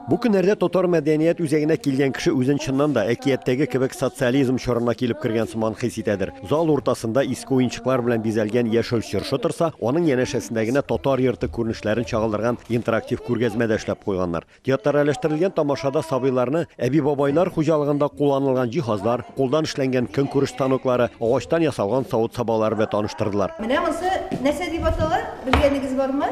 Бу көннәрдә татар мәдәният үзәгенә килгән кеше үзен чыннан да әкияттәге кебек социализм чорына килеп кергән сыман хис итәдер. Зал уртасында иске уенчыклар белән бизәлгән яшел чыршы торса, аның янәшәсендә генә татар йорты күренешләрен чагылдырган интерактив күргәзмә дә эшләп куйганнар. Театральләштерелгән тамашада сабыйларны әби-бабайлар хуҗалыгында кулланылган җиһазлар, кулдан эшләнгән көнкүреш станоклары, агачтан ясалган савыт-сабалары белән таныштырдылар. Менә монсы нәрсә дип атала, белгәнегез бармы?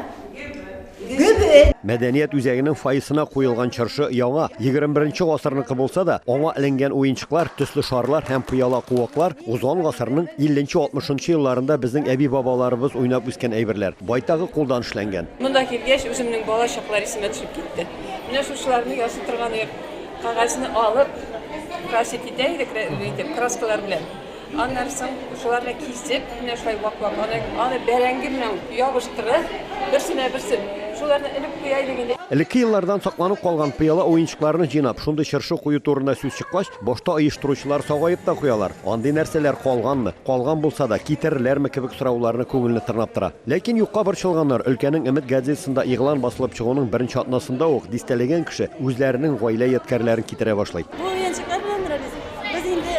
Гөбер. Мәдәният үзәгенең фойесына куелган чыршы яңа, егерме беренче гасырныкы булса да, аңа эленгән уенчыклар, төсле шарлар һәм пыяла куаклар, узган гасырның илленче-алтмышынчы елларында безнең әби-бабаларыбыз уйнап үскән әйберләр. Байтагы кулдан эшләнгән. Монда килгәч, үземнең бала чаклар исемә төшеп китте. Менә шушыларны ясый торган идек. Кагазьне алып, красить итә идек, краскалар белән. Аннан соң шуларны кисеп, менә шулай ваклап, аны, аны бәрәңге белән ябыштырып, берсенә берсе шуларны элеп куя идек инде. Элекке еллардан сакланып калган пыяла уенчыкларын җыйнап, шундый чыршы кую турында сүз чыккач, башта оештыручылар сагаеп та куялар, андый нәрсәләр калганмы, калган булса да, китерерләрме кебек сорауларны күңелне тырнап тора. Ләкин юкка борчылганнар, Өлкәнең өмет газетасында игълан басылып чыгуның беренче атнасында ук дистәләгән кеше үзләренең гаилә ядкәрләрен китерә башлый. Бу уенчыклар белән бераз без инде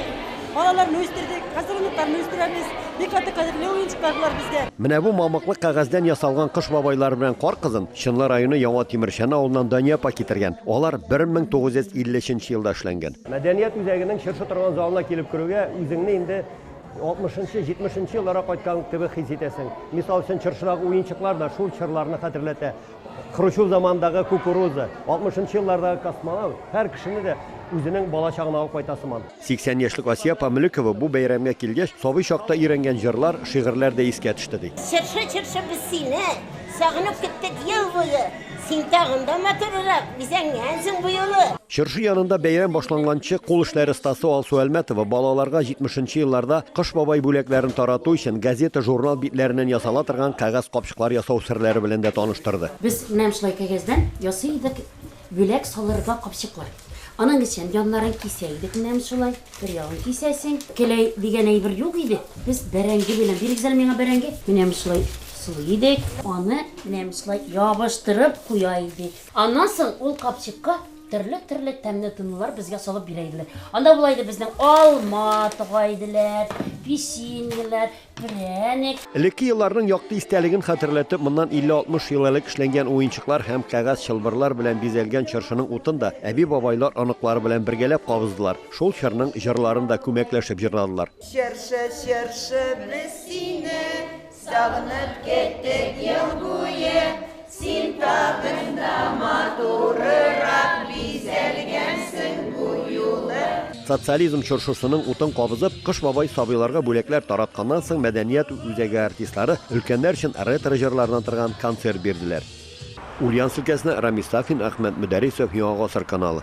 Балаларны үстердек, хәзер оныкларны үстерәбез. Бик каты кадерле уенчыклар болар безгә. Менә бу мамыклы кәгазьдән ясалган Кыш бабайлары белән Кар кызын Чынлы районы Яңа Тимерчәне авылыннан Дания апа китергән. Алар 1950 нче елда эшләнгән. Мәдәният үзәгенең чыршы торган залына килеп керүгә, үзеңне инде 60 нчы, 70 нчы елларга кайткан кебек хис итәсең. Мисал өчен, чыршыдагы уенчыклар да шул чорларны хәтерләтә. Хрущев заманындагы кукуруза, 60 нчы еллардагы космолан һәр кешене дә үзенең бала чагына алып кайта сыман. 80 яшьлек Асия апа Мөлекова бу бәйрәмгә килгәч, сабый чакта өйрәнгән җырлар, шигырьләр дә искә төште, ди. Чыршы, чыршы без сине, сагынып көттек ел буе, Син тагын да матурырак, бизәнгәнсең бу юлы. Чыршы янында бәйрәм башланганчы, кул эшләре остасы Алсу Әлмәтова балаларга 70 нче елларда Кыш бабай бүләкләрен тарату өчен газета-журнал битләреннән ясала торган кәгазь капчыклар ясау серләре белән дә таныштырды. Без менә шулай кәгазьдән ясый идек. Бүләк салырга капчыклар. Аның өчен яннарын кисә идек, менә менә шулай. Бер ягын кисәсең. Келәй дигән әйбер юк иде. Без бәрәңге белән, бирегез әле миңа бәрәңге. Менә менә шулай сылый идек. Аны менә менә шулай ябыштырып куя идек. Аннан соң ул капчыкка төрле-төрле тәмле тынлылар безгә салып бирә иделәр. Анда була иде безнең алма тога иделәр, печеньеләр, Пряник. Элекке елларның якты истәлеген хәтерләтеп, моннан 50-60 ел элек эшләнгән уенчыклар һәм кәгазь чылбырлар белән бизәлгән чыршының утын да әби-бабайлар оныклары белән бергәләп кабыздылар, шул чорның җырларын да күмәкләшеп җырладылар. Чыршы, чыршы, без сине сагынып киттек ел буе, Син тагын да матурырак бизәлгәнсең бу юлы. Социализм чыршысының утын кабызып, Кыш бабай сабыйларга бүләкләр таратканнан соң мәдәният үзәге артистлары өлкәннәр өчен ретро җырлардан торган концерт бирделәр. Ульяновск өлкәсенә Рамис Сафин, Әхмәт Мөдәрисов, Яңа гасыр каналы.